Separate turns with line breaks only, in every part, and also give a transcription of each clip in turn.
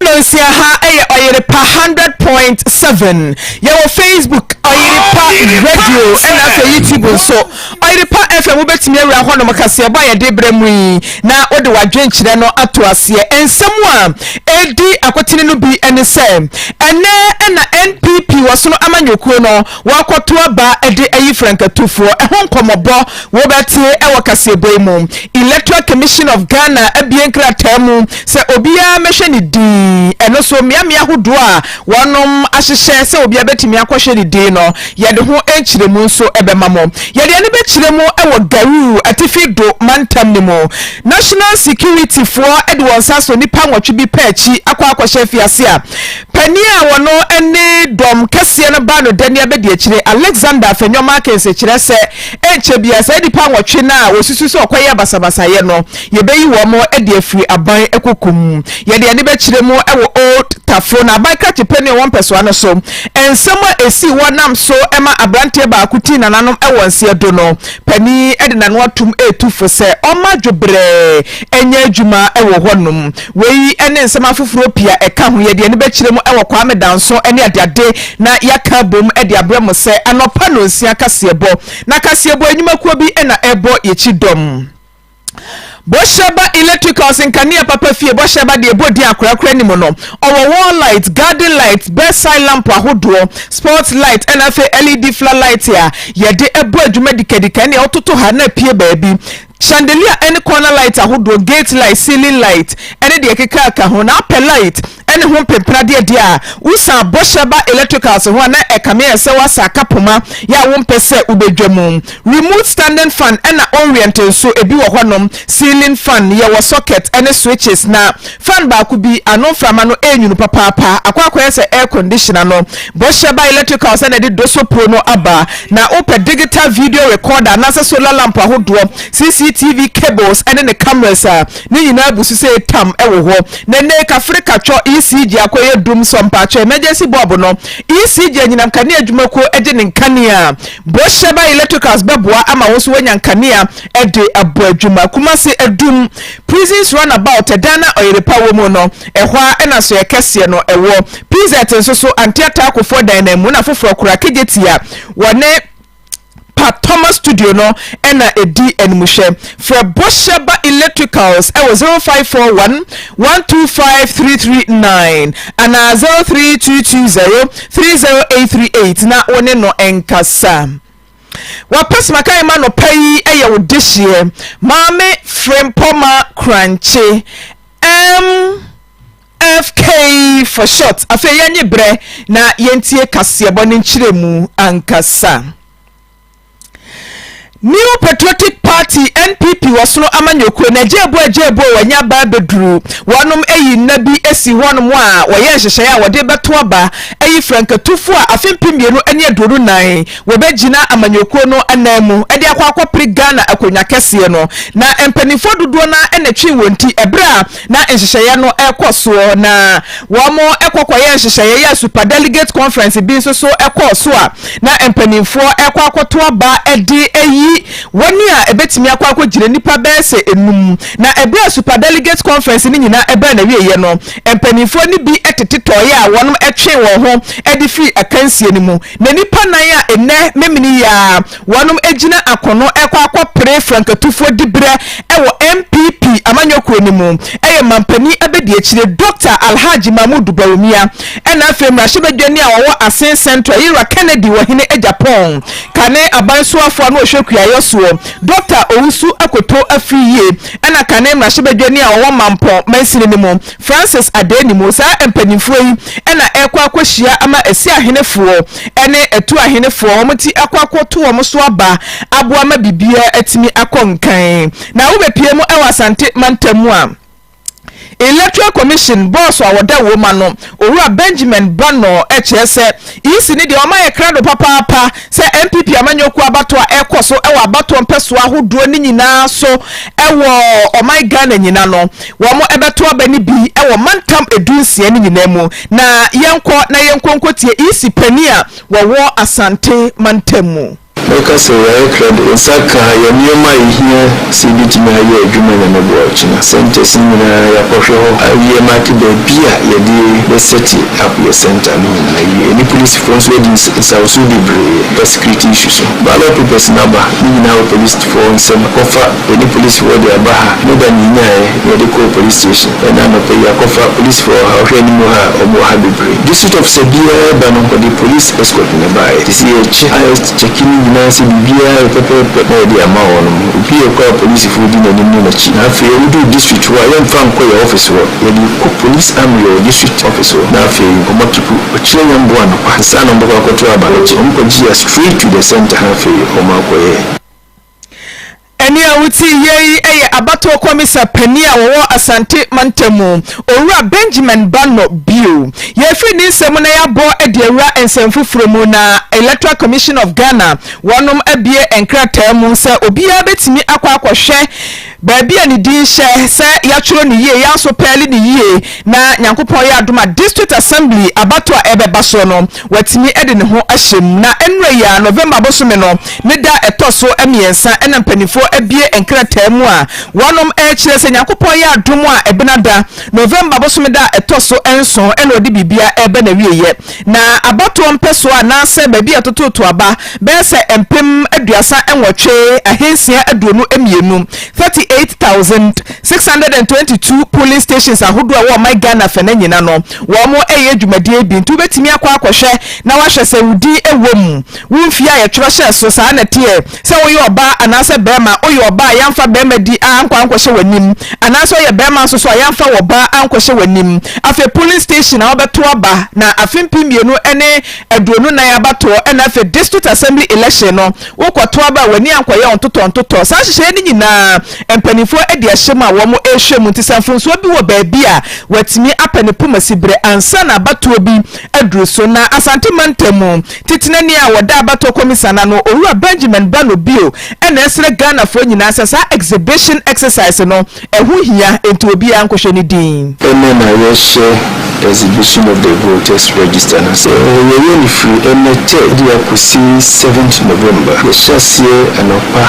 Hello nsia ha yɛ
ɔyere pa hundred point seven yɛwɔ facebook ɔyere pa radio ɛna afei youtube nso ɔyere pa fm wobɛtumi awura hɔ nom kaseɛbɔ a yɛde brɛ mu yi na wode w'adwenkyerɛ no ato aseɛ nsɛm a ɛdi akotene no bi ne sɛ ɛnɛ ɛna npp wɔsono amanyɔkuo no Wɔakɔto aba de ayi frankatufoɔ. Ɛho nkɔmmɔbɔ wobɛte wɔ kaseɛbɔ yi mu. Electoral Commission of Ghana abue nkrataa mu sɛ obiara mmɛhwɛ ne din. Ɛno so, mmeammea ahodoɔ a wɔnom ahyehyɛ sɛ obiara bɛtumi akɔhwɛ ne din no, yɛde ho nkyerɛmu nso bɛma mo. Yɛde ɛno bɛkyerɛ mu wɔ Garuu, Atifi Dho mantam no mu. National Security foɔ de wɔn nsa asɔ nnipa nwɔtwe bi pɛ akyi akɔ akɔhyɛ afiase a. Panin a ɔno ne dɔm kɛseɛ no ba no dani abɛdiakyire. Alexander Fenyomakis kyerɛ sɛ ɛnkyɛ biara saa nnipa nwɔtwe no a wɔsusu sɛ wɔkɔyɛɛ basabasayɛ no, yɛbɛyi wɔn de afiri aban kokum. Yɛde ani bɛkyerɛ mu wɔ Old Tafo no aban krakye panin a ɔwɔ mpɛsoa no so. Nsɛm a ɛsii wɔ nam so ma aberanteɛ baako tii nananom wɔ nseɛ do no, panin de n'ano atom retu fo sɛ ɔmma dwobrɛ nyɛ adwuma wɔ hɔnom. Wei ne nsɛm afoforɔ pii a ɛka ho, yɛde ani bɛkyerɛ mu wɔ Kwame Danso ne Adeade na yɛaka abom de abrɛ mo sɛ anɔpa nnɔnsia kaseɛbɔ. Na kaseɛbɔ nnwumakuo bi na ɛrebɔ yɛn kyidɔm. Bɔhyɛba Electricals Nkanea papa fie bɔhyɛba deɛ ɛbɔ din akorakora ne mu no, ɔwɔ wall light, garden light, bedside lamp ahodoɔ, spot light ɛna afei LED fla light a yɛde bɔ adwuma dikadika ɛne ɛwototo ha na apue baabi. Chandelier ne corner light ahodoɔ, gate light, ceiling light ne deɛ ɛkeka ka ho, na apɛ light ne ho mpempenadeɛ deɛ a, wosan bɔhyɛ ba electricals ho a na ɛkame ayɛ sɛ woasa aka poma yɛ a wompɛ sɛ wobɛdwa mu. Remote standing fan na oriente nso, ebi wɔ hɔnom, ceiling fan, yɛwɔ socket ne switches na. Fan baako bi ano mframa no renwunu papaapa akɔ akɔyɛ sɛ air condition ano. Bɔhyɛ Ba Electricals na ɛde Doso Pro no aba. Na wopɛ digital video recorder anaasɛ solar lamp ahodoɔ, CCTV cables ne ne cameras a, ne nyinaa abu so sei tam wɔ hɔ. Na nnɛ yi Kafrika Twɔ ECG akɔyɛ dum sɔ mpaakye emergency bulb no, ECG anyinam kanea adwuma kuo gye ne nkanea. Bɔhyɛ Ba Electricals bɛboa ama wo nso woanya nkanea de abɔ adwuma. Kumasi Adum. Prisons Run About, ɛdan a ɔyerepa wɔ mu no, ɛhɔ ara na soɛɛ kɛseɛ no wɔ. PZ nso so, anteataakofoɔ dan no mu na foforɔ koraa, Kejetia, wɔ ne Pa Thomas Studio no na ɛdi animhwɛ. Frɛ Bosheba Electricals wɔ 0541 125 339 anaa 03220 30838 na wo ne no nkasa. W'apɛsima ka yɛ ma nɔpa yi yɛ wo dehyeɛ Maame Frempɔma Krankye MFK for short Afei yɛnye berɛ na yɛntie kaseɛbɔ no nkyerɛmu ankasa New Patriotic Party, NPP, wɔ Sono amanyɔkuo no, Agyeɛbuo Agyeɛbuo a wɔanya aba abɛduru, wɔnom ayi nna bi asi hɔnom a wɔyɛ nhyehyɛeɛ a wɔde bɛto aba ayi frankatufoɔ a afe mpem mmienu ne aduonu nan Wɔbɛgyina amanyɔkuo no anan mu de akɔ akɔpere Ghana akonnwa kɛseɛ no, na mpanimfoɔ dodoɔ no ara na ɛtwee wɔn ti berɛ a na nhyehyɛeɛ no rekɔ soɔ, na wɔkɔ kɔyɛɛ nhyehyɛeɛ yɛɛ Super Delegate Conference bi nso so kɔɔ so a na mpanimfoɔ rekɔ akɔto aba de ayi wɔn a ɛbɛtumi akɔ akɔgyina nnipa bɛyɛ sɛ nnum, na berɛ a Super Delegate Conference no nyinaa baa n'awieeɛ no, mpanimfoɔ no bi tete tɔeɛ a wɔtwee wɔn ho de firii akansie no mu. Na nnipa nnan a nnɛ memene yi ara wɔnom agyina akono rekɔ akɔpere frankatufoɔ diberɛ wɔ NPP amanyɔkuo no mu yɛ manpanin abɛdiakyire Dɔkta Alhadji Mahmoud Bawumia ɛna afei mmarahyɛbadwani a ɔwɔ Asin Central Ira Kennedy wɔ Hene Agyapong kane aban soafoɔ ano ɔhwɛ kuayɔ soɔ Dɔkta Owusu Akoto Afriyie ɛna kane mmarahyɛbadwani a ɔwɔ Mampong mansini no mu Francis Adeni mu. Saa mpaninfoɔ yi na ɛrekɔ akɔhyia ama Asi ahenefoɔ ne Atu ahenefoɔ wɔn ti akɔ akɔto wɔn so aba aboa ma biribiara atumi akɔ nkan. Na wobɛpue mu wɔ Asante mantam mu a Electoral Commission bɔɔso a wɔda wom ano Owura Benjamin Bannor kyerɛ sɛ Isi ne deɛ ɔma yɛ krado papaapa sɛ NPP amanyɔkuo abatoɔ a ɛrekɔ so wɔ abatoɔ mpɛsoa ahodoɔ no nyinaa so wɔ ɔman Ghana nyina no, wɔn bɛto aba no bi wɔ mantam ɛdu nsia no nyinaa mu. Na yɛnkɔ na yɛnkɔ nkɔtie Isi panin a wɔwɔ Asante mantam mu. Mɛka sɛ yɛayɛ
krado. Nsa kaa yɛn nneɛma a ehia sɛ yebetumi ayɛ adwuma Nyame boa akyina centres no nyinaa. Yɛakɔhwɛ hɔ awie ma aka baabi a yɛde bɛ set up yɛn centre no nyinaa awie. Yɛne polisifo nso adi nsawosow bebree wɔ security issue so. Ballot papers no aba, ne nyinaa wɔ polisifo nsam kɔfa Yɛde polisfoɔ de aba ha. Ne da no yɛnyaeɛ na yɛde kɔɔ police station. Ɛna anɔpa yi yɛakɔfa polisfoɔ ɔha. Wohwɛ anim ha a, wɔn wɔ ha bebree. District officer biara reba no, ɔde police escort na ɛbaeɛ. Te sɛ yɛkyɛ highest check no nyinaa sɛ biribiara yɛ pɛpɛɛpɛ na yɛde ama wɔn. Obi rekɔ a polisfoɔ di n'anim ne n'akyi. Na afei wɔduru district hɔ a, yɛmfa nkɔ yɛn office hɔ. Yɛde rekɔ police armory wɔ district office hɔ. Na afei wɔakipu ɔkyena nyɛmboa anɔpa ansa na wɔbɛkɔ akɔto aba. Wɔkye wɔn kɔgye a straight to the centre na afei wɔakɔyɛ.
Ɛnne a wotie yie yi yɛ abatoɔ kɔmisa panin a wɔwɔ Asante mantam mu, Owura Benjamin Banno bio. Yɛrefiri ne nsam na yɛabɔ de awura nsɛm foforɔ mu na Electoral Commission of Ghana wɔnom abue nkrataa mu sɛ obiara bɛtumi akɔ akɔhwɛ Baabi a ne din hyɛ, sɛ yɛatwerɛ no yie, yɛasopɛɛle no yie na Nyankopɔn yɛ adom a District Assembly abatoɔ a ɛrebɛba soɔ no, watumi de ne ho ahyɛ mu. Na ɛnnerɛ yi ara, November bosome no ne da a ɛtɔ so mmiɛnsa na mpaninfoɔ abue nkrataa mu a wɔnom rekyerɛ sɛ Nyankopɔn yɛ adom a Ɛbenada, November bosome da a ɛtɔ so nson na ɔde biribiara reba n'awieɛ. Na abatoɔ mpɛsoa anaasɛ baabi a ɛtototo aba bɛyɛ sɛ mpem aduasa nwɔtwe ahansia aduonu mmienu, 38,622 polling stations ahodoɔ a ɛwɔ ɔman Ghana fɛnɛ nyina no, wɔɛyɛ dwumadie bi. Nti wobɛtumi akɔ akɔhwɛ na wahwɛ sɛ wo din wɔ mu, wo mfie a yɛtwerɛ hyɛɛ so, saa na ɛteɛ. sɛ woyɛ ɔbaa anaasɛ barima a, woyɛ ɔbaa a yɛamfa barima di a ankɔ ankɔhyɛ w'anim, anaasɛ woyɛ barima nso so a yɛamfa wo ɔbaa ankɔhyɛ w'anim. Afei polling station a wobɛto aba na afe mpem mmienu ne aduonu nan abatoɔ na afei district assembly election no wokɔto aba a w'ani ankɔyɛ wo ntotɔntotɔ. Saa nhyehyɛeɛ no nyinaa mpanimfoɔ adi ahyɛ mu a wɔn rehwɛ mu nti sɛ mfomsoɔ bi wɔ baabi a watumi apɛ ne poma siberɛ ansa na abatoɔ bi aduru so na Asante mantam mu Titenani a ɔda abatoɔ kɔmisa no ano, Owura Benjamin Bano Bio na ɛsrɛ Ghanafoɔ nyinaa sɛ saa exhibition exercise no, ɛho hia, enti obiara nkɔhwɛ ne din. Ɛnnɛ na yɛrehyɛ
Exhibition of the Voters Register no ase. Yɛyɛ no firi ɛnnɛ Thursday akɔsi seventh November. Yɛhyɛ aseɛ anɔpa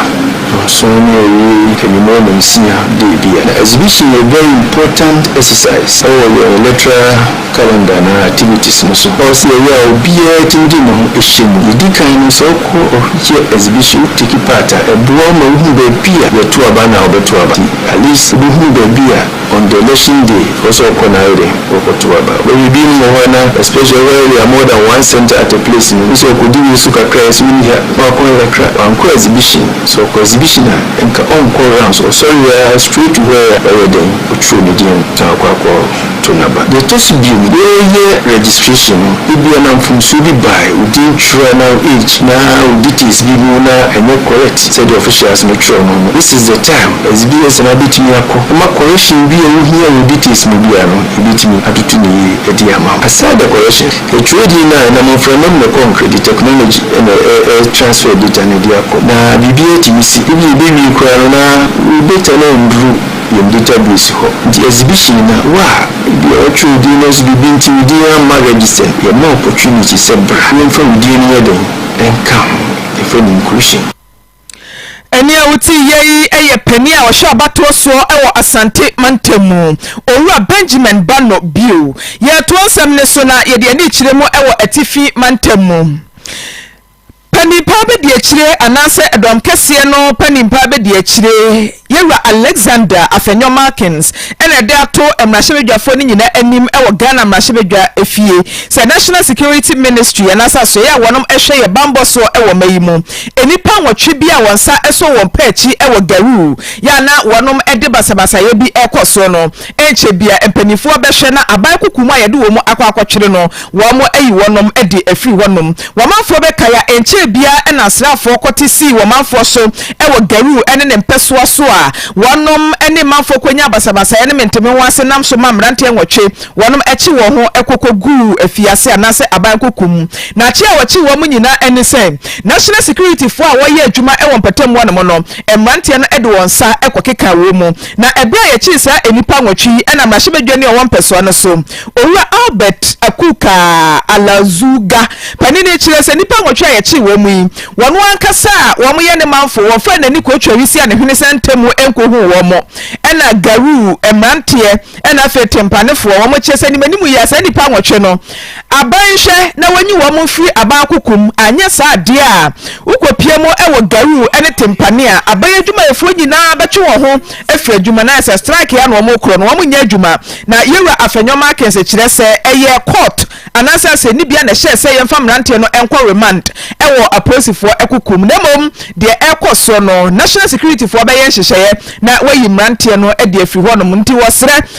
nson na yɛwie anwummerɛ nonsia daybia. Na exhibition yɛ very important exercise ɛwɔ yɛn electoral calendar anaa activities no so. Ɔwɔ sɛ yɛyɛ a obiara tumi de ne ho hyɛ mu. Didi kan no, sɛ wokɔ ɔhwehwɛ exhibition wo take part a, ɛboa wo ma wohu baabi a yɛto aba anaa wɔbɛto aba. Nti at least wobɛhunu baabi a on the election day ɛwɔ sɛ wokɔ na ayɛ dɛn wokɔto aba. Wobɛhwɛ binom wɔ hɔ a na especially ɔwɔ area more than one centre at a place no, wobisa ɔkɔdi wei so kakra a ɛsɛ ɔnni ha na wakɔ ayɛ kakra. Wankɔ exhibition. Sɛ ɔkɔ exhibition a nka ɔnkɔ rounds, ɔsɔre ara straight to where a wɔyɛ dɛn wɔtwerɛ ne din no na wakɔ akɔ. to n'aba. Deɛ ɛtɔ so bio no, yɛreyɛ registration no, ebia na mfomsoɔ bi bae, wo din twerɛ anaa wo age na wo details bi mu na ɛnyɛ correct sɛdeɛ officials no twerɛ no no, this is the time as BS no abɛtumi akɔ ama correction bi a wohia wɔ wo details mu biara no, yɛbɛtumi atoto no yie de ama wo. Aside the correction, yɛtwerɛ din no a, ɛnam mframa mu na ɛkɔ nkra, ɛde technology na ɛtransfer data no de akɔ na biribiara tumi si. Ebia ɛbɛwie koraa no na wo data no anduru. Yɛde gyabere asi hɔ nti exhibition na wo a ebi a wɔatwerɛ wo din nanso biribi nti wo din amma register no, yɛma wo opportunity sɛ bra yɛmfa wo din no nyɛ dɛn nka ho. Yɛfrɛ no inclusion.
Ɛnne a wote yɛ yi yɛ panin a ɔhwɛ abatoɔ soɔ wɔ Asante mantam mu, Owura Benjamin Bano Bio. Yɛretoa nsɛm no so na yɛde ani rekyerɛ mu wɔ Atifi mantam mu. Panin pa bɛdi akyire anaasɛ ɛdɔm kɛseɛ no panin pa bɛdi akyire. Yɛn Wura Alexander Afenyo Markins na ɛde ato mmarahyɛbadwafoɔ no nyinaa anim wɔ Ghana mmarahyɛbadwa fie sɛ National Security Ministry anaasɛ asoɛeɛ a wɔnom hwɛ yɛn bammɔ soɔ wɔ mma yi mu nnipa nwɔtwe bi a wɔn nsa sɔ wɔn pɛ akyi wɔ Garoo yɛ a na wɔnom de basabasayɛ bi rekɔ soɔ no. Ɛrenkyɛ biara mpanimfoɔ bɛhwɛ na aban kuku mu a yɛde wɔn akɔ akɔtwere no, wɔayi wɔnom de afiri hɔnom. Wɔmanfoɔ bɛkae a ɛnkyɛɛ biara na asraafoɔ kɔte sii wɔmanfoɔ so wɔ Garou ne ne mpɛsoa so a wɔnom ne manfoɔ kɔnyaa basabasayɛ ne mentemeho ase nam so ma mmeranteɛ nwɔtwe wɔnom kye wɔn ho kɔkɔguu afiase anaasɛ aban kuku mu. Na kye a wɔkye wɔnom nyinaa ani sɛ National Securityfoɔ a wɔyɛ adwuma wɔ mpatamu hɔnom no, mmeranteɛ no de wɔn nsa kɔkekaa wɔn mu. Na bere a yɛkyee saa nnipa nwɔtwe yi nam mmarahyɛbadwani a ɔwɔ mpɛsoa no so, Owura Albert Akukaa Alazuga, panin no kyerɛɛ sɛ nnipa nwɔtwe a yɛkyee wɔn yi, wɔn ankasa a wɔyɛ ne manfo, wɔfaa n'ani kootwaa wisi a ne hwene sɛn ntam mu nkohuu wɔn, ɛnna Garuu mmeranteɛ, ɛnna afei Tempanefoɔ, wɔn kyerɛ sɛ animanimu yi ara saa nnipa nwɔtwe no, aban nhwɛ na wɔnyi wɔn mfiri aban akoko mu, anyɛ saa deɛ a wokɔpia mu wɔ Garuu ne Tempane a aban adwumayɛfoɔ nyinaa bɛtwe wɔn ho afiri adwuma no ayɛ sɛ strike yɛ a na wɔn rekorɔ na wɔnnyɛ adwuma na Yɛwura Afenyo Markins kyerɛ sɛ ɛyɛ court anaasɛ asɛnnibea na ɛhyɛɛ sɛ yɛmfa mmeranteɛ no nkɔ remand wɔ apolisifoɔ akoko mu na mmom deɛ ɛrekɔ soɔ no National Securityfoɔ bɛyɛ nhyehyɛeɛ na wɔayi mmeranteɛ no de afiri hɔnom nti wɔsrɛ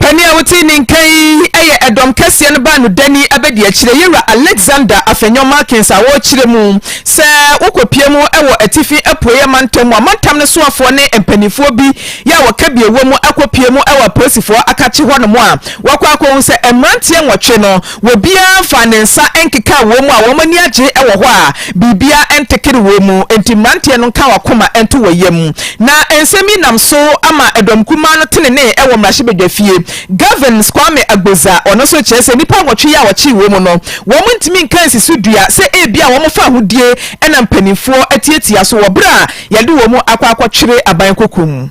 Kane a wote ne nka yi yɛ ɛdɔm kɛseɛ no baanudani abadiakyire, Yɛwura Alexander Afenyo Markins, a wɔrekyerɛ mu sɛ wokɔpue mu wɔ Atifi Apuei Amantam mu. Amantam no soafoɔ ne mpaninfoɔ bi yɛ a wɔka bi wɔ mu akɔpue mu wɔ apolisifoɔ akakye hɔ nom a wɔakɔ akɔhu sɛ mmeranteɛ nwɔtwe no Obiara mfaa ne nsa nkekaa wɔn mu a wɔn ani agye wɔ hɔ a biribiara ntekere wɔn mu. Enti mmeranteɛ no nka wɔn akoma nto wɔn yam. Na nsɛm yi nam so ama dɔm kumaa no tenenee wɔ mmarahyɛbadwafie. Gavin Kwame Agbodza, ɔno nso kyerɛ sɛ nnipa nwɔtwe yi a wɔkyee wɔn mu no, wɔntumi nka nsi so dua sɛ ebia wɔmfa ahodie na mpanimfoɔ atiatia so wɔ berɛ a wɔde wɔn akɔ akɔtwere aban kokum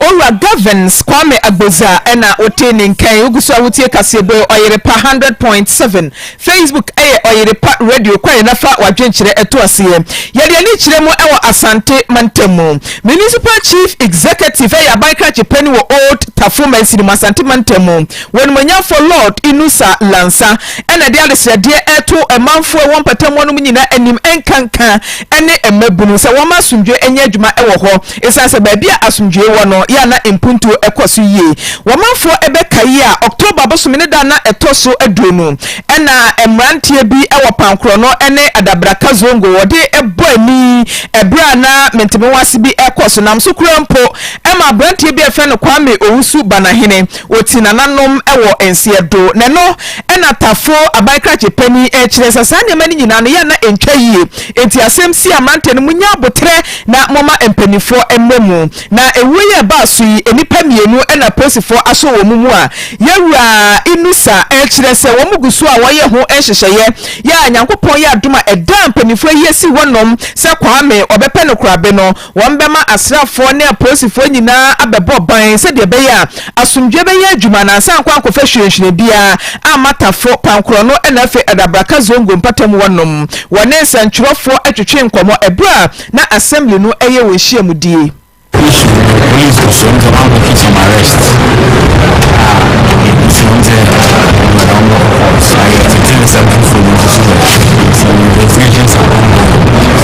Owura Govins Kwame Agbodza na wote ne nka yi. Wogu so a wotie Kaseɛbɔ Ɔyerepa one hundred point seven. Facebook yɛ Ɔyerepa Radio. Kɔ yɛ na fa w'adwenkyerɛ to aseɛ. Yɛde ani kyerɛ mu wɔ Asante mantam mu. Municipal Chief Executive yɛ aban krakye panin wɔ Old Tafo mansini mu, Asante mantam mu. W'animuonyamfoɔ Lord Inusah Lansah na ɛde adesrɛdeɛ reto manfoɔ a ɛwɔ mpatamuwa no mu nyinaa anim, nkanka ne mmabunu, sɛ wɔmma asomdwoeɛ nyɛ adwuma wɔ hɔ, ɛsiane sɛ baabi a asomdwoeɛ wɔ no, yɛ a na mpuntuo kɔ so yie. Ɔmanfoɔ bɛkae a, October bosome no da a na ɛtɔ so aduonu na mmeranteɛ bi wɔ Pankorɔno ne Adabraka Zongo wɔde bɔ ani berɛ a na mentemewaase bi rekɔ so, nam so koraa mpo ma aberanteɛ bi a yɛfrɛ no Kwame Owusu Banahene Wɔti nananom wɔ nseɛ do. Nɛno na Tafo aban krakye panin rekyerɛ sɛ saa nneɛma no nyinaa no yɛ a na ɛntwa yie. Enti asɛm sie a mmeranteɛ no monyɛ aboterɛ na momma mpaninfoɔ mmrɛ mu. Na ɛwuo yi a ɛbaa so yi nnipa mmienu na polisifoɔ asɔ wɔn mu a Yawura Inusa rekyerɛ sɛ wɔn gu so a wɔyɛ ho nhyehyɛeɛ yɛ a Nyankopɔn yɛ adom a ɛdaa mpaninfoɔ yi asi hɔ nom sɛ Kwame ɔbɛpɛ no korabe no Wɔbɛma asraafoɔ ne apolisifoɔ nyinaa abɛbɔ ban sɛdeɛ ɛbɛyɛ a asomdwoeɛ bɛyɛ adwuma na ansa ankɔ ankɔfa hwirenhwiren biara amma Tafo, Kwankorɔno na afei Adabraka Zongo mpatamu hɔ nom. Wɔne nsɛntwerɛfoɔ twetwee nkɔmmɔ berɛ a na Assembly no reyɛ wɔn nhyiamudie. Issue no, Police
for Seoul dze wɔn abɛto some arrest a ebusua dze wɔn dɛ wɔbɔkɔ court na yɛtsetse nsɛm fofor bi nso so wɔ hɔ ntsi investigations are ongoing.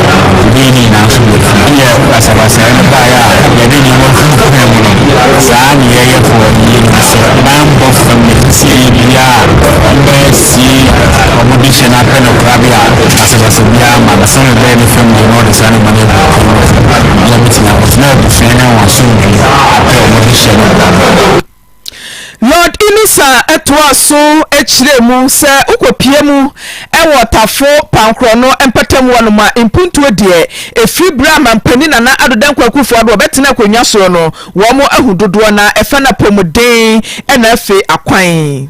Gyidie no nyinaa nso wɔ fie. Deɛ basabasayɛ no baeɛ a yɛde nneɛma hunhuaa mu no, saa nneyɛeɛfoɔ yi nim sɛ banbɔ fam na ɛsisiiɛ biara a wɔbɛsie wɔn de hyɛ no apɛ no korabea a basabasa biara mma no, sɛdeɛ ɛbɛyɛ ne fam deɛ na wɔde saa nneɛma no agu afie no fam na wɔatumi akɔtena abusua ne wɔn asomdwoeɛ apɛ wɔn de hyɛ no. Lord Inisa toaa so kyerɛɛ mu sɛ wokɔpia mu wɔ Tafo pankorɔ no mpɛtam hɔnom a mpuntuo deɛ ɛfiri berɛ a Mampanin Nana Addo Dankwa Akufo-Addo a ɔbɛtena akonnwa soɔ no wɔahu dodoɔ no ara, ɛfɛ no apɔmuden na afei akwan.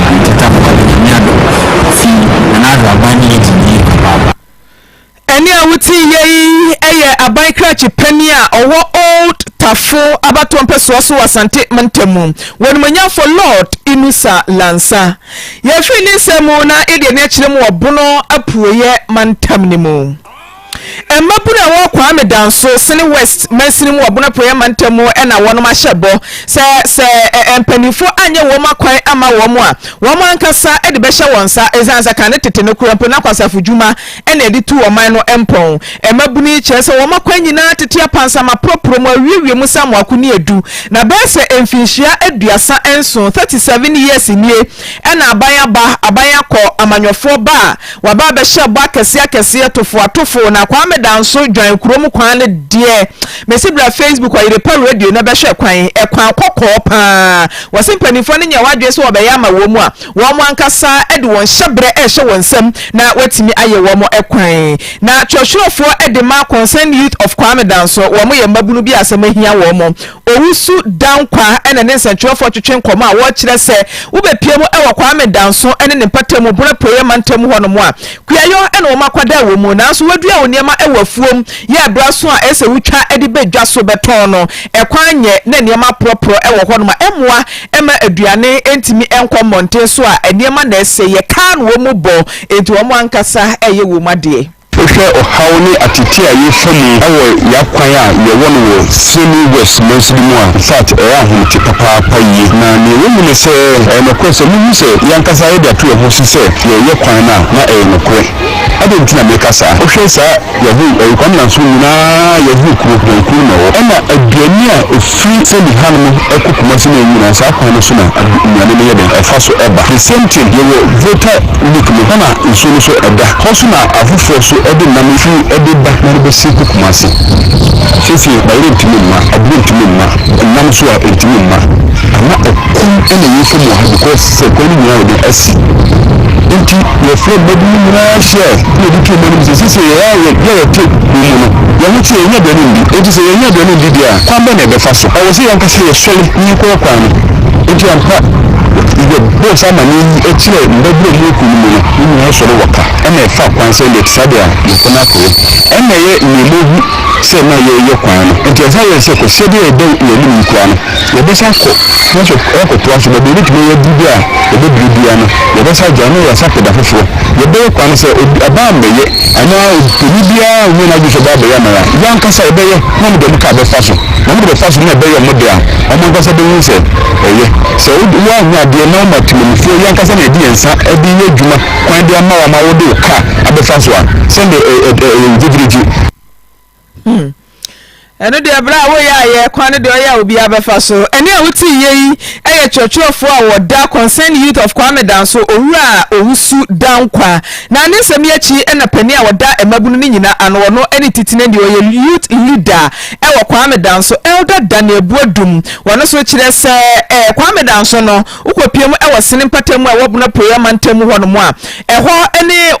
Adetetafo ade no, Nyame adom fi na n'ahraban no yɛ dinn
papaapa. Ɛnne a wote yɛ yi yɛ aban krakye panyin a ɔwɔ Old Tafo abatoɔ mpɛsoa so wɔ Asante mantamu, W'animuonyamfo Lord Inusa Lansa. Yɛfiri ne nsɛm mu na yɛde ani akyerɛ mu wɔ Bono Apueɛ mantam no mu. Mmabunu a ɛwɔ Kwame Danso Sene West mansini mu wɔ Bono Apueɛ Mantam mu na wɔnom ahyɛ bɔ sɛ sɛ mpaninfoɔ anyɛ wɔnom akwan ama wɔnom a, wɔnom ankasa de bɛhyɛ wɔn nsa ɛsiane sɛ kan ne tete nokorɛ mpo na kwasafo dwuma na ɛde tu ɔman no mpɔn. Mmabunu yi kyerɛ sɛ wɔnom akwan nyinaa tete apansam aporɔporɔ mu awiewie mu sɛ amoako ne adu na bɛyɛ sɛ mfinhyia aduasa nson, 37 years, nie na aban aba, aban akɔ, amanyɔfoɔ ba a, Waba abɛhyɛ bɔ akɛseɛ akɛseɛ tofoa tofoo na Kwame Danso dwan kurom kwan no deɛ mesi bra Facebook ɔyere pa radio no bɛhwɛ kwan ɛkwan kɔkɔɔ paa wɔse mpanimfoɔ no nyɛ wɔn adwene sɛ wɔbɛyɛ ama wɔn mu a wɔn ankasa de wɔn hyɛbrɛ ɛhyɛ wɔn nsam na wɔatumi ayɛ wɔn ɛkwan na twerɛtwerɛfoɔ de ma Concerned Youth of Kwame Danso wɔn yɛ mmabunu bi a asɛm ahia wɔn Owusu Dankwah na ne nsɛnkyerɛwfoɔ twetwe nkɔmmɔ a wɔkyerɛ sɛ wobɛpue mu wɔ Kwame Danso ne ne mpata mu Bona Apueɛ mantam hɔ nom a kuayɔ na wɔn akwadaa wɔ mu nanso wɔadua wɔn nneɛma wɔ afuom yɛ berɛ aso a ɛsɛ sɛ wotwa de ba dwa so bɛtɔn no ɛkwan nyɛ na nneɛma aporɔporɔ wɔ hɔ nom a ɛmmoa mma aduane ntumi nkɔ mmɔnten so a nneɛma na ɛsɛeɛ kaa na wɔn mu bɔ enti wɔn ankasa yɛ wɔn adeɛ. Wohwɛ ɔhaw
ne ateetee a yɛrefa mu wɔ yɛn akwan a yɛwɔ no wɔ Sydney West mansin no mu a, infact, ɛyɛ ahomete papaapa yie. Na nea ɛwɔ mu ne sɛ, ɛyɛ nokorɛ sɛ muhu sɛ yɛn ankasa yɛde ato yɛn ho so sɛ yɛreyɛ kwan no a, na ɛyɛ nokorɛ. Adɛn nti na mereka saa? Wohwɛ saa Yahoo awikwam nanso nyina ara Yahoo kuro, yɛn kuro no na ɛwɔ. Ɛna aduane a ɛfiri Sydney hanom kɔ Kumasi no nyina ara saa kwan no so na nnuane no yɛ dɛn? Ɛfa so ba. The same thing, yɛwɔ voter Lake no, hɔ na nsuo no nso da. Hɔ nso na afoforɔ nso de nam firi de ba na de bɛsi kɔ Kumasi. Seesei bayerɛ ntumi mma, aburo ntumi mma, nam nso a ɛntumi mma. Ama ɛkɔm na ɛyɛ fam wɔ ha because sɛ kwan no nyinaa yɛ den asi. Nti yɛfrɛ mma bi no nyinaa hyia na yɛde tu mma no mu sɛ seesei yɛn a yɛ yɛ yɛte kuro mu no, yɛn ho te yɛn nya aduane ndi. Nti sɛ yɛn nya aduane ndi deɛ a, kwan bɛn na yɛbɛfa so? Ɛwɔ sɛ yɛn ankasa yɛsɔre na yɛkɔ kwan no. Nti ampa. Yɛbɔ saa amanneɛ yi kyerɛ mmabunu a wɔwɔ kuw no mu no, wɔn nyinaa sɔre wɔ ka na ɛfa kwan sɛ yɛte saa de a, yɛkɔ no akɔyɛ. Ɛnna ɛyɛ nea mahu sɛ na yɛreyɛ kwan no. Enti ɛsan yɛɛ sɛ kwasida bi a ɛda yɛn anim yi koraa no, yɛbɛsan akɔ na nso akɔtoa so. Baabi a yɛbɛtumi ayɛ aduru bi a yɛbɛduru biara no, yɛbɛsan agyae na yɛasan akɔ da foforo. Yɛbɛyɛ kwan no sɛ obi, ɔbaa mmɛyɛ Ɛno ara o, panyin biara nnya n'adwene sɛ ɔbɛba abɛyɛ aman a yɛn ankasa yɛbɛyɛ na wɔde wɔn kaa bɛfa so, na wɔde bɛfa so na ɛbɛyɛ wɔn de a, wɔn ankasa behu sɛ ɛyɛ. Sɛ wo woannya adeɛ na woma temamufoɔ yi ankasa na yɛde yɛn nsa de yɛ adwuma kwan de ama wo ama wode wo kaa abɛfa so a, sɛdeɛ ɛ ɛ ɛyɛ wo gyegyeregye, Hmm.
ɛno deɛ berɛ a woyɛ ayɛ kwan no deɛ ɔyɛ a obiara bɛfa so ɛne a wotii yɛ yi yɛ kyerɛkyerɛfoɔ a wɔda concern youth of kwame danso owura a owusu dankwa na ne nsɛm yi akyi na panin a wɔda mmabunu no nyina ano ɔno ne titine deɛ ɔyɛ youth leader ɛwɔ kwame danso elder daniel buadum wɔno so kyerɛ sɛ ɛɛ kwame danso no wokɔpie mu ɛwɔ sene mpata mu a ɛwɔ bono apueɛ amantam hɔ nom a ɛhɔ ne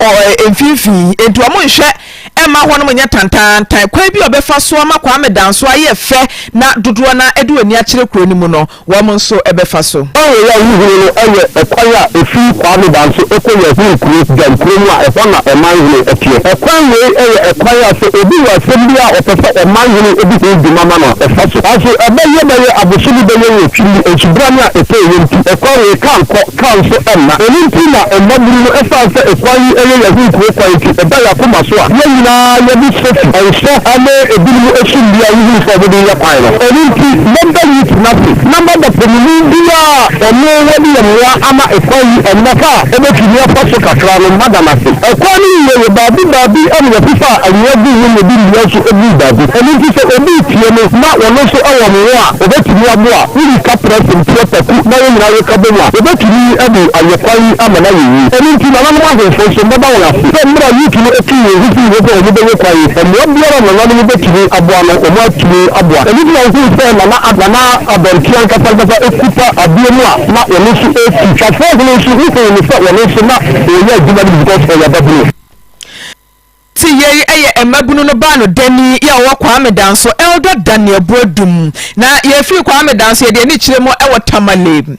mfimfini nti wɔn nhwɛ Ɛmma hɔnom nyɛ tantaantan. Kwan bi a wɔbɛfa so ama Kwame Danso ayɛ fɛ na dodoɔ no ara ɛde wɔn ani akyerɛ kuro no mu no, wɔn nso bɛfa so. Ɛhɔ a wohunu no
yɛ ɛkwan a ɛfiri Kwame Danso kɔ Yahoo kuro, Gyan kuro mu a ɛhɔ na ɔmanhene teɛ. Ɛkwan wei yɛ ɛkwan a sɛ obi wɔ asɛm bi a ɔpɛ sɛ ɔmanhene di ho dwuma ma no a, ɔfa so. Nanso ɛbɛyɛ bɛyɛ abosome bɛyɛ nwɔtwe ni, nsubura no a ɛtaa ɛwɔ nti, ɛkwan wei ka nkɔ. Ka nso mma. Ɛno nti na mmabunu no ɛsiane sɛ ɛkwan yi ɛyɛ yɛn ho nkuro kwan nti ɛda yɛn akoma so a yɛn nyinaa yɛde sofi, nsɔ, ne ebinom ɛso nnua wohunu sɛ wɔde yɛ kwan no. Ɛno nti mɛda Ruth no ase na mɛda panyini biara a ɔno wɔde yɛ mmoa ama ɛkwan yi ɛnnɛ ha a ɔbɛtumi afa so kakra no mada no ase. Ɛkwan no nyinaa yɛ baabi baabi ɛna yɛfefaa anwea guu ho na yɛde nnua nso ɛguu baabi. Ɛno nti sɛ obi retie me na ɔno nso ɛwɔ mmoa a ɔbɛtumi aboa a, Woyi ka prɛ sen teɛ paku na wɔn nyinaa reka bom a, wɔbɛtumi de ayɛ kwan yi ama no ayɛ yie. Ɛno nti, nananom ahemfo nso, mɛda wɔn ase sɛ mmerɛ a Ruth no tuu wɔn ho fii hɔ sɛ wɔbɛyɛ kwan yi, mmoa biara a nananom bɛtumi aboa no, wɔatumi aboa. Ɛno nti na wohuu sɛ na na Nana Abɛnte ankasa ankasa kuta adeɛ mu a na ɔno nso resi. Safoahene nso, wohuu no sɛ ɔno nso na ɔreyɛ adwuma no bi because ɔyɛ babunu.
Te yei yɛ mmabunu no baa no dani yi a ɔwɔ Kwame dan so Elder Daniel Boadum na yɛfiri Kwame dan so yɛde ani kyerɛ mu wɔ Tamale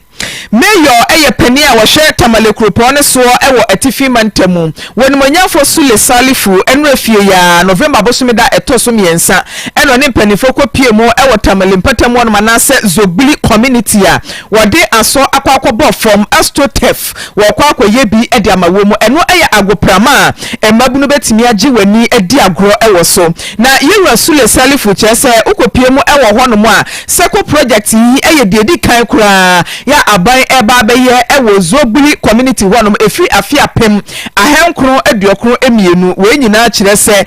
Mayor yɛ panin a wɔhwɛ Tamale kuropɔn no soɔ wɔ Atifi mantamu wɔ Animuonyamfoɔ Sule Salifu nnura fie yi ara November bosome da ɛtɔ so mmiɛnsa na ɔne mpaninfoɔ kɔ pie mu wɔ Tamale mpatamu hɔ nom anaasɛ Zogbli community a Wɔde asɔ akɔ akɔbɔ fam asto tef, wɔrekɔ akɔyɛ bi de ama wom. Ɛno yɛ agoprama a mmabunu betumi agye wɔn ani adi agorɔ wɔ so. Na Yewura Sule Salifu kyerɛ sɛ wokopue mu wɔ hɔnom a, Seko project yi yɛ deɛ edi kan koraa yɛ a aban reba abɛyɛ wɔ Zobuli community hɔnom ɛfiri afe apem ahankron aduokron mmienu. Wei nyinaa kyerɛ sɛ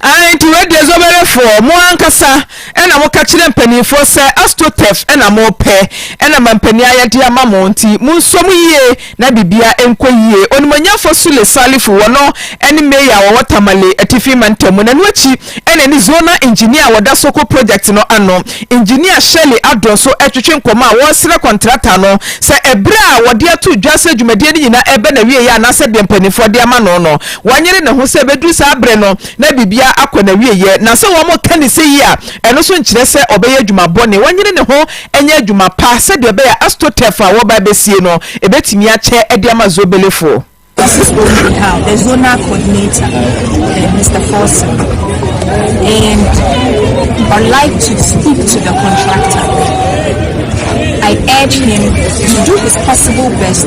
Aane, nti wei deɛ Zoberefoɔ, mo ankasa na moka kyerɛ mpaninfoɔ sɛ Astotef na mopɛ, na ma mpanin ayɛdeɛ ama mo, nti monsuo mo yie na biribiara nkɔ yie. Onimuonyamfoɔ Sule Salifu, wɔno ne Mayor a wɔwɔ Tamale Atifi Mantam mu, na ɛno akyi na ɛne Zonal Engineer a wɔda Soko Project no ano, Engineer Shirley Addo nso retwetwe nkɔmmɔ a wɔresrɛ kɔntrata no sɛ ɛberɛ a wɔde ato dwa sɛ dwumadie no nyinaa reba n'awieeɛ anaasɛ deɛ mpaninfoɔ de ama no no, Wanyere ne ho sɛ ɛbɛduru saa bere no na biribiara akɔ n'awieeɛ, na sɛ wɔreka no sɛ yie a, ɛno nso nkyerɛ sɛ ɔbɛyɛ adwuma bɔne. Wanyere ne ho nyɛ adwuma pa sɛdeɛ ɛbɛyɛ a Astotef a wɔreba abɛsie no bɛtumi akyɛ de ama Zobelefoɔ. This is what we
have, the zonal coordinator, uh, Mr. Forson. And I'd like to speak to the contractor. I urge him to do his possible best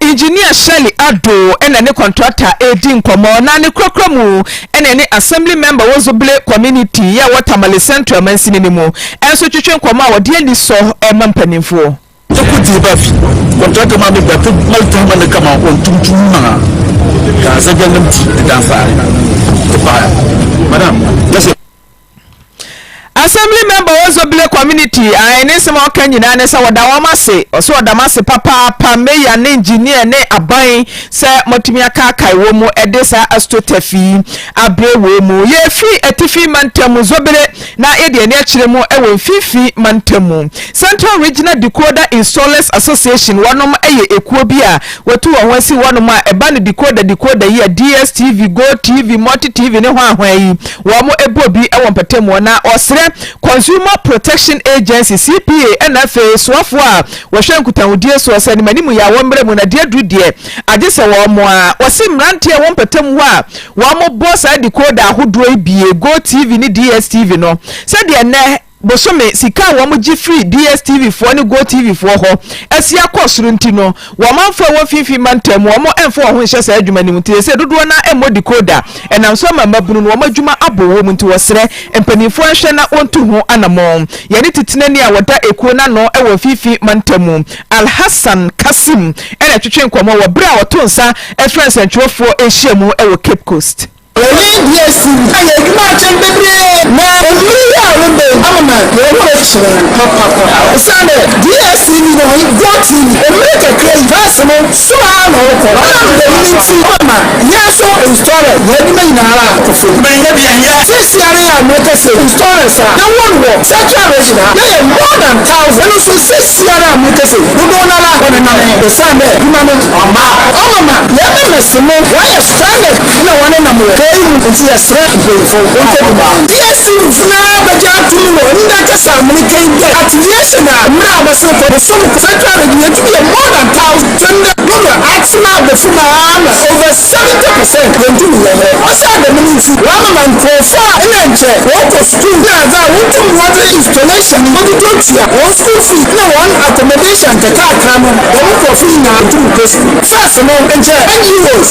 Engineer Shirley Addo na ne contractor redi nkɔmmɔ na ne korakora mu na ɛne Assembly Member wɔ Zobele Community yɛ wɔ Tamale Central mansini no mu nso retwetwe nkɔmmɔ a wɔde anisɔ rema mpanimfoɔ. Yɛkɔ gye ba
fi contractor ma me bɛto ma to ma ne kama on tum tum ma ka sɛ gyanam ti da fa e pa madam yɛsɛ Assembly
member wɔ Zobile community ae ne nsɛm a ɔka nyinaa ne sɛ wɔda wɔn ase ɔsɛ ɔdam ase papaapa mayor ne engineer ne aban sɛ moatumi akaakae wɔn mu ɛde saa astroturf yi abrɛ wɔn mu yɛfi atifi mantam mu Zobile na yɛde ani akyerɛ mu ɛwɔ mfimfini mantam mu Central Regional Decoder Installers Association wɔnom ɛyɛ ekuo bi a Watu wɔn ho asi hɔnom a ɛba no decoder decoder yi a DSTV, GoTv, MultiTv ne hwan hwan yi wɔn bɔ bi wɔ mpatamuo na ɔsrɛ Consumer Protection Agency, CPA, ɛna afei soafoɔ a wɔhwɛ nkutahodie soɔ sɛ animanimu yɛ a wɔmmra mu na deɛ aduru deɛ agye sɛ wɔn mmoa. Ɔse mmeranteɛ a ɛwɔ mpatamu hɔ a wɔbɔ saa decoder ahodoɔ yi bie, GoTv ne DSTV no, sɛdeɛ nnɛ. bosome sika a wɔgye firi DSTV foɔ ne GoTv foɔ hɔ asi akɔ soro nti no, wɔ amanfoɔ a ɛwɔ mfimfini mantam mu, wɔmfa wɔn ho nhyɛ saa adwuma no mu. Nti seesei dodoɔ no ara mmɔ decoder. Ɛnam so ama mmabunu no wɔn adwuma abow wom nti wɔsrɛ mpanimfoɔ nhwɛ na wɔntu ho anammɔn. Yɛne titenani a ɔda ekuo no ano wɔ mfimfini mantam mu, Alhassan Kassim na ɛtwetwee nkɔmmɔ wɔ berɛ a ɔto nsa frɛɛ nsɛntwerɛfoɔ nhyiamu wɔ Cape Coast. Eyi de asi
hɔ ayɛ adwuma atɛm bebree na onii yi a wo bɛn ama ma yɛn werɛ kyerɛ papaapa ɛsiane dɛ DSTV no ne Go TV mmere kakra yi verse no so ara na ɔrekɔ ɔnam dɛm no nti ɔbɛ ma yɛn nso installer yɛn adwuma nyina ara akɔ fam na yɛnyɛ deɛ yɛ seesei ara yi a mɛ ka sɛ installers a yɛ wɔ no wɔ central region ha yɛ yɛ more than thousand ɛno nso seesei ara a mɛ ka sɛ dodoɔ no ara ɔne nane ɛsiane dɛ adwuma no ɔma ɔma ma yɛn members no wɔayɛ stranded. na wɔne nam wɔ kɛɛ yi mu nti yɛsrɛ mpanyinfoɔ nkwantɛ bi mu a. DSC mufo no ara bɛgye ato mu wɔ nda kɛse amene kɛɛ yi dɛ ateviation a mmerɛ a bɛsene kɔ bosom kɔ central region yɛtumi yɛ more than thousand sɛ ndɛ dodoɔ atena abofom ara na over seventy percent yɛntumi nyɛ mmerɛ a saa dɛm no nti wɔamema nkurɔfoɔ a nna nkyɛ wɔkɔ sukuu na adze a wɔntu mmoa dze installation no wɔtotɔ tua wɔn school fees na wɔn accommodation nkakrakra no dɛm nkurɔfoɔ nyinaa wɔntumi nkɔ sukuu first no nkyɛ NGOs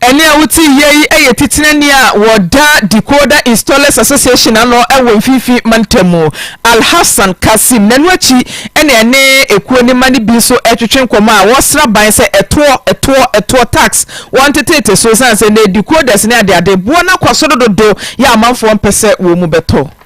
Ɛnne a wotiiɛ yi yɛ titire nne a wɔda Decoder Installers Association ano wɔ Mfinfini Mantam. Alhassan Kassim na ɛno akyi na ɛne ekuo no mma no bi nso retwetwe nkɔmmɔ a wɔsra ban sɛ ɛtoɔ, ɛtoɔ, ɛtoɔ, tax, wɔntetete so esiane sɛ nnɛ decoders ne adeade boɔ no akɔ soro dodo yɛ a amanfoɔ mpɛ sɛ wɔn mu bɛtɔ.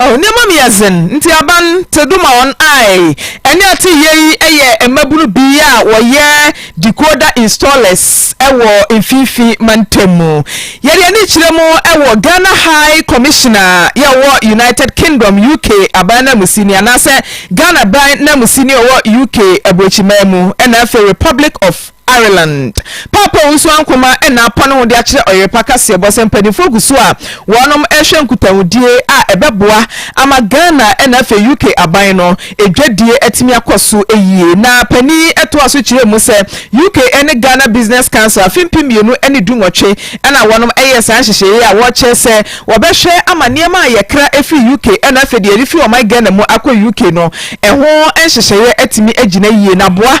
Oh, nneɛma mu
yɛ dzen, ntsi aban tse do ma hɔn ae. Ɛnde atse yie yi yɛ mmabun bi a wɔyɛ decoder installers wɔ Mfinfi Mantamu. Yɛde ani kyerɛ mu wɔ Ghana High Commissioner a yɛ ɔwɔ United Kingdom, UK, aban nanmusini anaasɛ Ghana ban nanmusini ɔwɔ UK aburokyimman mu na afei Republic of Ireland. Paapa wu so ankoma na apɔn ho de akyerɛ ɔyerepa kaseɛbɔ sɛ mpaninfoɔ gu so a wɔnom rehwɛ nkutahudie a ɛbɛboa ama Ghana na afei UK aban no dwadie atumi akɔ so yie. Na panin yi toa so kyerɛɛ mu sɛ UK ne Ghana Business Council afe mpem mmienu ne du nwɔtwe na wɔnom yɛɛ saa nhyehyɛeɛ a wɔkyerɛ sɛ wɔbɛhwɛ ama nneɛma a yɛkra firi UK na afei deɛ yɛde firi ɔman Ghana mu akɔ UK no ɛho nhyehyɛeɛ atumi agyina yie na aboa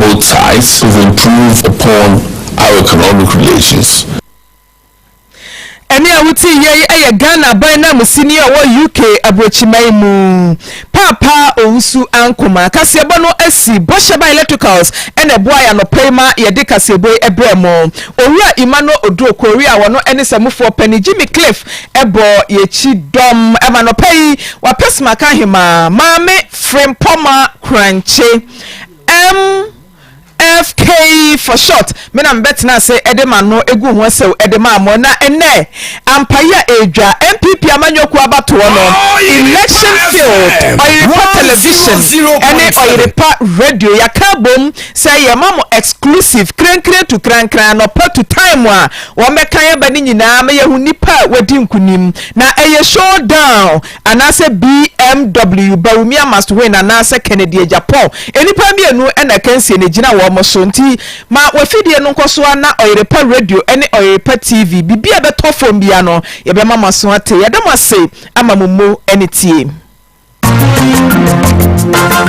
both sides to improve upon our economic relations. Ɛnne
a wotie yɛ yi yɛ Ghana aban nanmusini a ɔwɔ UK aburokyiman mu, Paapa Owusu Ankomah. Kaseɛbɔ no si Bɔhyɛban Electricals na ɛboa yɛ anɔpa yi ma yɛde kaseɛbɔ yi brɛ mo. Owura Emmanuel Oduro Kori a ɔno ne samufoɔ panin Jimmy Cliff bɔ yɛn kyidɔm ma anɔpa yi. Wapɛ sima ka ahemaa. Maame. Frimpɔma Korankye, MFK for short, me na mebɛtena ase de m'ano agu ho asau de maa mo, na ɛnnɛ, ampa yi a ɛredwa, NPP amanyɔ kuo abatoɔ no, election failed, Ɔyerepa Television ne Ɔyerepa Radio, yɛaka abom sɛ yɛma mo exclusive, krankran tu krankran, anɔpa tu time a wɔbɛkan aba no nyinaa ma yɛahu nnipa a wɔadi nkunim, na ɛyɛ showdown. Anaasɛ BMW, Bawumia must win anaasɛ Kennedy agya Paul. Nnipa mmienu na akansie no gyina wɔn so. Nti ma w'afidie no nkɔ so ara na Ɔyere Pa Radio ne Ɔyere Pa TV, biribi a ɛbɛtɔ fam biara no, yɛbɛma mo aso ate. Yɛda mo ase ama mo mmo ne tie.